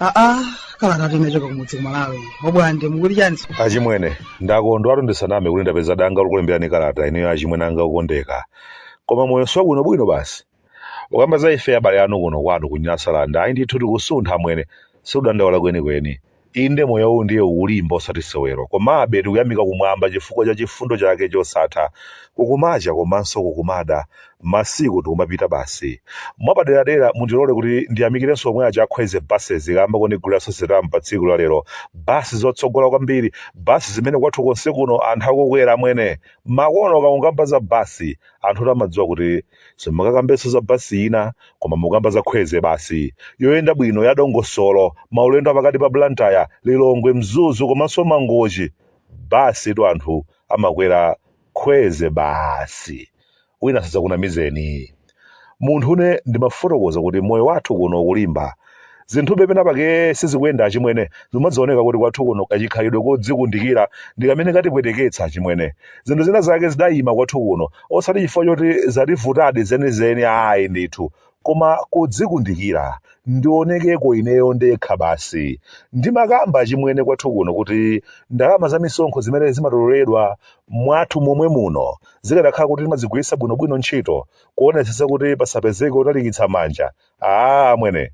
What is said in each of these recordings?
aa kalata inachoka kumudzi kumalawi obwande mukuti chaninso achimwene ndakondwatu ndisaname kuti ndapeza danga lokulemberani kalata ineyo achimwene anga okondeka koma moyo si wabwinobwino basi ukamba za ife abale anu kuno kwanu ku nyasalanda ayi ndithu tikusuntha amwene sikudandaula kwenikweni inde moyo uwu ndiye ukulimba osati sewero komabe tikuyamika kumwamba chifukwa cha chifundo chake chosatha kukumacha komanso kukumada masiku tikumapita basi mwapaderadera mundilole kuti ndiyamikirenso omwe aja a kwezy buses kamba kondigulira sosetamu pa tsiku la lero basi zotsogola kwambiri basi zimene kwathu konse kuno anthu akukwera amwene makono ka ukamba za basi anthutu amadziwa kuti simungakambenso za basi ina koma mukukamba za kwezy basi yoyenda bwino ya dongosolo maulendo apakati pa blantyre lilongwe mzuzu komanso mangochi basitu anthu amakwera kwezy basi wina sadzakunamizeni munthune ndimafotokoza kuti moyo wathu kuno ukulimba Zinthube pena pake sizikuyenda achimwene, zimadzioneka kuti kwathu kuno kachikhalidwe kodzikundikira ndi kamene katipweteketsa achimwene. Zinthu zina zake zidayima kwathu kuno, osati chifukwa choti zativutadi zenizeni ayi ndithu, koma kudzikundikira, ndionekeko ineyo ndekha basi. Ndimakamba achimwene kwathu kuno kuti ndalama za misonkho zimene zimatololedwa mwathu momwe muno, zikadakhala kuti timazigwiritsa bwinobwino ntchito, kuonetsetsa kuti pasapezeke otalikitsa manja, aa amwene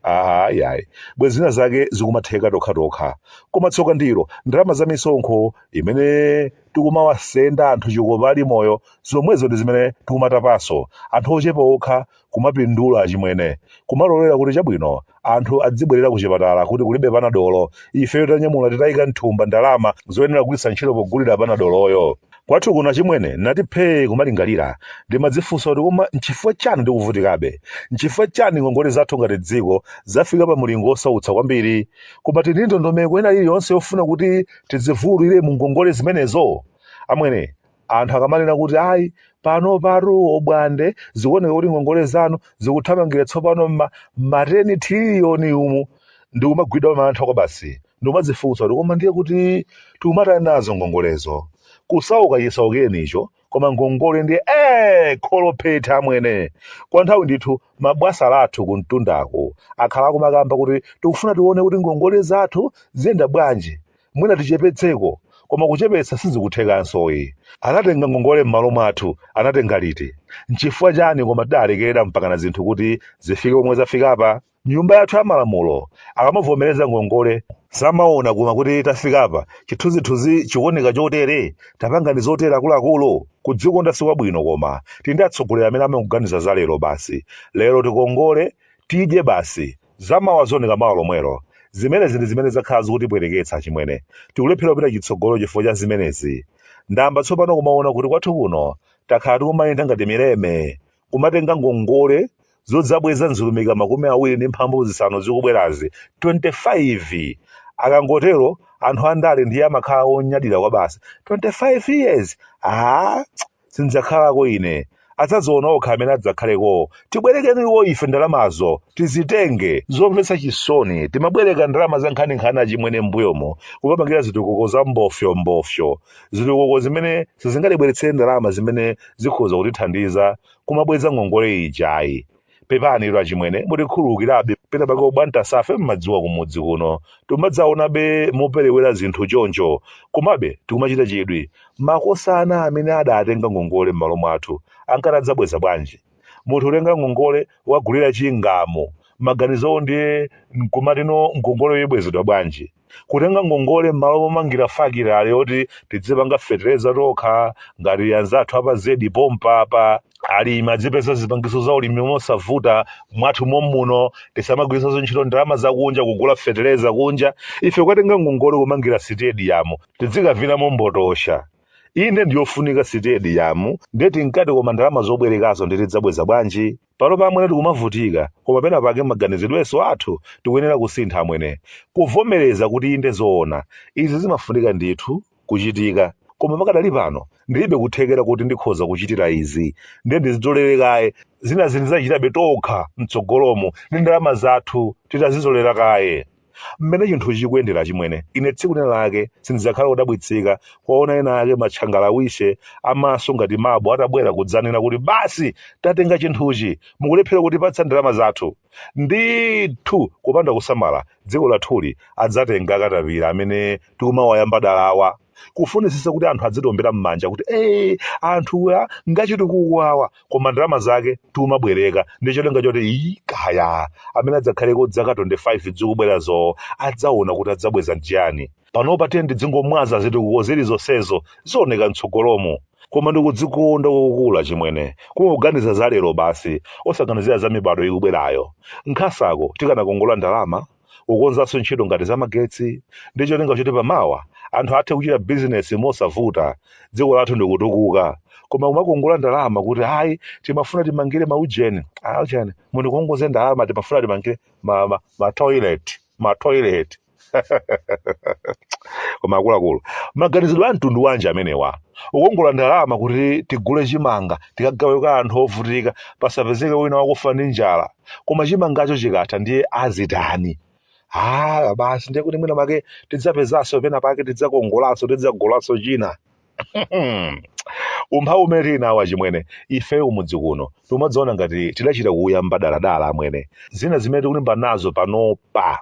aha yayi bwezi zina zake zikumatheka tokhatokha koma tsoka ndilo ndalama za misonkho imene tikumawasenda anthu chikopa ali moyo zomwezo ndi zimene tikumatapanso anthu ochepa okha kumapindula achimwene kumalolera kuti chabwino anthu adzibwerera ku chipatala kuti kulibe panadolo ifeyo tanyamula titayika mthumba ndalama zoyenera kugwiritsa ntchito pogulira panadoloyo Kwathu kuno achimwene ndinati phee kumalingalira. Ndimadzifunsa kuti koma n'chifukwa chani tikuvutikabe? N'chifukwa chani ngongole zathu ngati dziko zafika pa mulingo wosautsa kwambiri? Koma tili ndi ndondomeko ina iliyonse yofuna kuti tidzivuwulire mu ngongole zimenezo? Amwene, anthu akamanena kuti ayi panopatu obwande zikuoneka kuti ngongole zanu zikuthamangira tsopano m'ma m'mateni thililiyoni umu, ndikumagwidwa mantha kwabasi. ndikumadzifunsa kuti koma ndiye kuti tikumatani nazo ngongolezo kusauka chisaukireni icho koma ngongole ndiye ee kholophethe amwene kwa nthawi ndithu mabwasa lathu kumtundaku akhala akumakamba kuti tikufuna tione kuti ngongole zathu ziyenda bwanji mwina tichepetseko koma kuchepetsa sizikuthekanso ayi anatenga ngongole m'malo mwathu anatenga liti nchifukwa chani koma tidalekerera mpakana zinthu kuti zifike pomwe zafikapa Nyumba yathu ya malamulo akamavomereza ngongole samaona koma kuti tafikapa chithunzithunzi chikuoneka chotere? Tapanganji zotere akuluakulu? Kudzikonda sikwabwino koma tili ndi atsogoleri amene amangoganiza za lero basi. Lero tikongole, tidye basi. Zamawa zioneka mawa lomwelo. Zimenezi ndi zimene zakhala zikutipweteketsa achimwene. Tikulephera kupita chitsogolo chifukwa cha zimenezi. Ndayamba tsopano kumaona kuti kwathu kuno takhala tikumayenda ngati mileme. kumatenga ngongole zodzabweza m'zilumika makumi awiri ndi mphambu zisanu zikubwerazi 25 akangotero anthu andale ndiye amakhala onyadira kwabasi 25 years ah, sindzakhalako ine adzaziona okha amene adzakhalekowo tibwerekeni iwo ife ndalamazo tizitenge zomvetsa chisoni timabwereka ndalama za nkhaninkhani achimwene mbuyomo kukapangira zitukuko za mbofyombofyo zitukuko zimene sizingatibweretsere ndalama zimene zikhoza kutithandiza kumabweza ngongole ijayi pepanitu achimwene mutikhululukirabe pena pake ubwantasafe mmadziwa kumudzi kuno timadzaonabe moperewera zinthu choncho komabe tikumachita chidwi makosana amene adatenga ngongole m'malo mwathu ankati adzabweza bwanji munthu utenga ngongole wagulira chingamu maganizowo ndiye nkumati no ngongole iyi ibwezedwa bwanji kutenga ngongole m'malo momangira fakitale yoti tidzipanga fetereza tokha ngati anzathu a pa Zedi pompa apa alimi adzipeza zipangizo za ulimi mosavuta mwathu mommuno tisamagwiritsanso ntchito ndalama zakunja kugula fetereza kunja ife kukatenga ngongole kumangira sitediyamu tidzikavinamo mbotosha inde ndiyofunika sitediyamu ndiye tinkati koma ndalama zobwerekazo ndiye tidzabweza bwanji panopa amwene tikumavutika koma pena pake maganizidwenso athu tikuyenera kusintha amwene kuvomereza kuti inde zoona izi zimafunika ndithu kuchitika koma pakadali pano ndilibe kuthekera kuti ndikhoza kuchitira izi ndiye ndizitolere kaye zinazi ndidzachitabe tokha mtsogolomo ndi ndalama zathu titazitolera kaye Mmene chinthuchi chikuyendera achimwene, ine tsiku lina lake sindidzakhala wodabwitsika kuwaona ena ake matchangalawiche a maso ngati mabo atabwera kudzanena kuti basi tatenga chinthuchi, mukulephera kutipatsa ndalama zathu. Ndithu kupanda kusamala dziko lathuli adzatenga akatapira amene tikumawayamba dala awa. kufunitsitsa kuti anthu adzitombera m'manja kuti ee anthuwa ngachitukuko awa koma ndalama zake tikumabwereka ndi cholinga choti ii kaya amene adzakhaleko dzaka 25 dzikubwerazo adzaona kuti adzabweza nchiyani panopa tiyeni tidzingomwaza zitukuko zili zonsezo zioneka mtsogolomo koma ndikudzikonda kwakukula achimwene kungoganiza za lero basi osaganizira za mibado ikubwerayo nkhasako, tikanakongola ndalama kukonzanso ntchito ngati zamagetsi ndi cholinga choti pamawa anthu athe kuchita bizinesi mosavuta dziko lathu ndikutukuka koma kumakongola ndalama kuti ayi timafuna timangire maujeni aujeni mundikongoze ndalama timafuna timangire ma, ma, ma toilet ma toilet koma akuluakulu maganizidwe a mtundu wanji amenewa kukongola ndalama kuti tigule chimanga tikagawe kwa anthu ovutika pasapezeke wina wakufa ndi njala koma chimangacho chikatha ndiye azitani ah basi ndiye kuti mwina make tidzapezanso pena pake tidzakongolanso tidzagulanso china umphawi umene tili nawo achimwene ife kumudzi kuno timadziona ngati tidachita kuuyamba dala dala amwene zina zimene tikulimba nazo panopa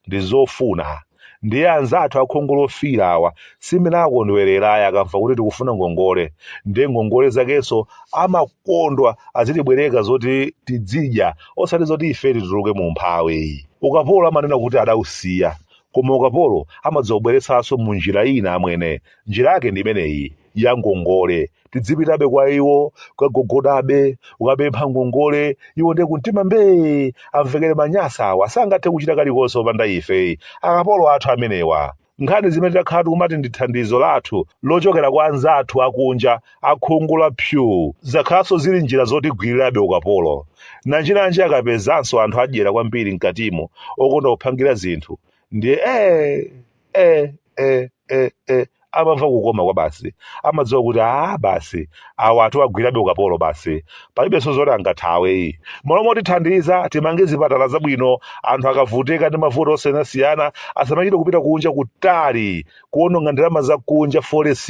ndi zofuna ndiye anzathu akhungu lofiira awa simene akondwerera akamva kuti tikufuna ngongole ndiye ngongole zakenso amakondwa azitibwereka zoti tidzidya osati zoti ife tituluke mu umphawi ukapolo amanena kuti adausiya koma ukapolo amadzaubweretsanso mu njira ina amwene njira yake ndi imeneyi ya ngongole tidzipitabe kwa iwo kukagogodabe kukapempha ngongole iwo ndiye kumtima mbee amvekere Anyasa awa sangathe kuchita kalikonse opanda ife akapolo athu amenewa nkhani zimene takhala tikumati ndi thandizo lathu lochokera kwa anzathu akunja akhungu la pyu zakhalanso zili njira zotigwirirabe ukapolo nanjinanji akapezanso anthu adyera kwambiri mkatimo okonda kuphangira zinthu ndiye ee e e e e amamva kukoma kwabasi amadziwa kuti a basi awa tiwagwirabe ukapolo basi palibenso zoti angathawe ayi malo motithandiza timange zipatala zabwino anthu akavutika ndi mavuto osiyanasiyana asamachite kupita kunja kutali kuononga ndalama za kunja forex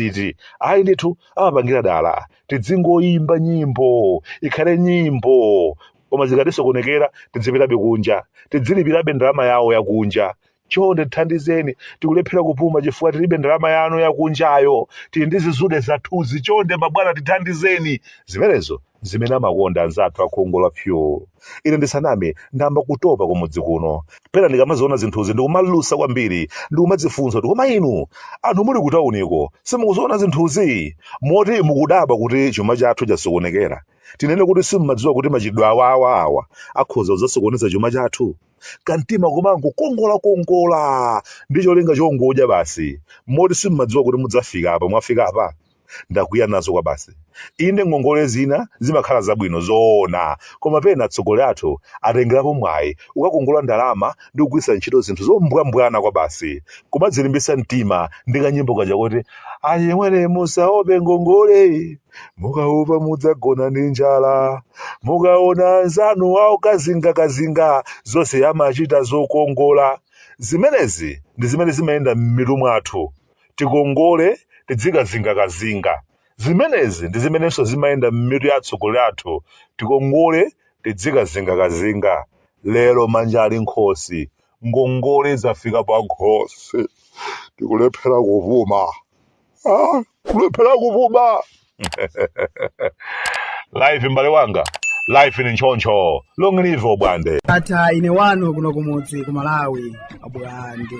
ayi ndithu amapangira dala tidzingoyimba nyimbo ikhale nyimbo koma zikatisokonekera tidzipitabe kunja tidzilipirabe ndalama yawo yakunja chonde tithandizeni tikulephera kupuma chifukwa tilibe ndalama yanu yakunjayo tili ndi zizude zathuzi chonde mabwana tithandizeni zimenezo zimene amakonda anzathu akhungu la pyu ine ndisaname ndayamba kutopa kumudzi kuno pena ndikamaziona zinthuzi ndikumalusa kwambiri ndikumadzifunsa kuti koma inu anthu muli kutauniko simukuziona zinthuzi moti mukudabwa kuti chuma chathu chasokonekera tinene kuti simumadziwa kuti machitidwe awawa awa akhoza kudzasokoneza chuma chathu kamtima komangokongolakongola ndi cholinga chongodya basi moti simumadziwa kuti mudzafika apa mwafika apa ndakwiya nazo kwabasi inde ngongole zina zimakhala zabwino zoona koma pena atsogoleri athu atengerapo mwayi kukakongola ndalama ndi kugwiritsa ntchito zinthu zombwambwana kwabasi kumadzilimbitsa mtima ndi kanyimbo kaja kuti achimwene musaope ngongole mukaopa mudzagona ndi njala mukaona anzanu awo kazingakazinga zonse amachita zokongola zimenezi ndi zimene zimayenda m'mitu mwathu tikongole tidzikazingakazinga zimenezi ndi zimenenso zimayenda m'mitu ya atsogoleri athu tikongole tidzikazingakazinga lero manja ali m'khosi ngongole zafika pa nkhosi tikulephera kupuma Ah, kulephera kupuma life mbale wanga life ni nchoncho long live abwande ata ine wanu kuno kumudzi ku malawi abwande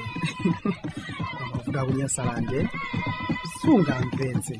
kuvuta kunyasalande sungamvetse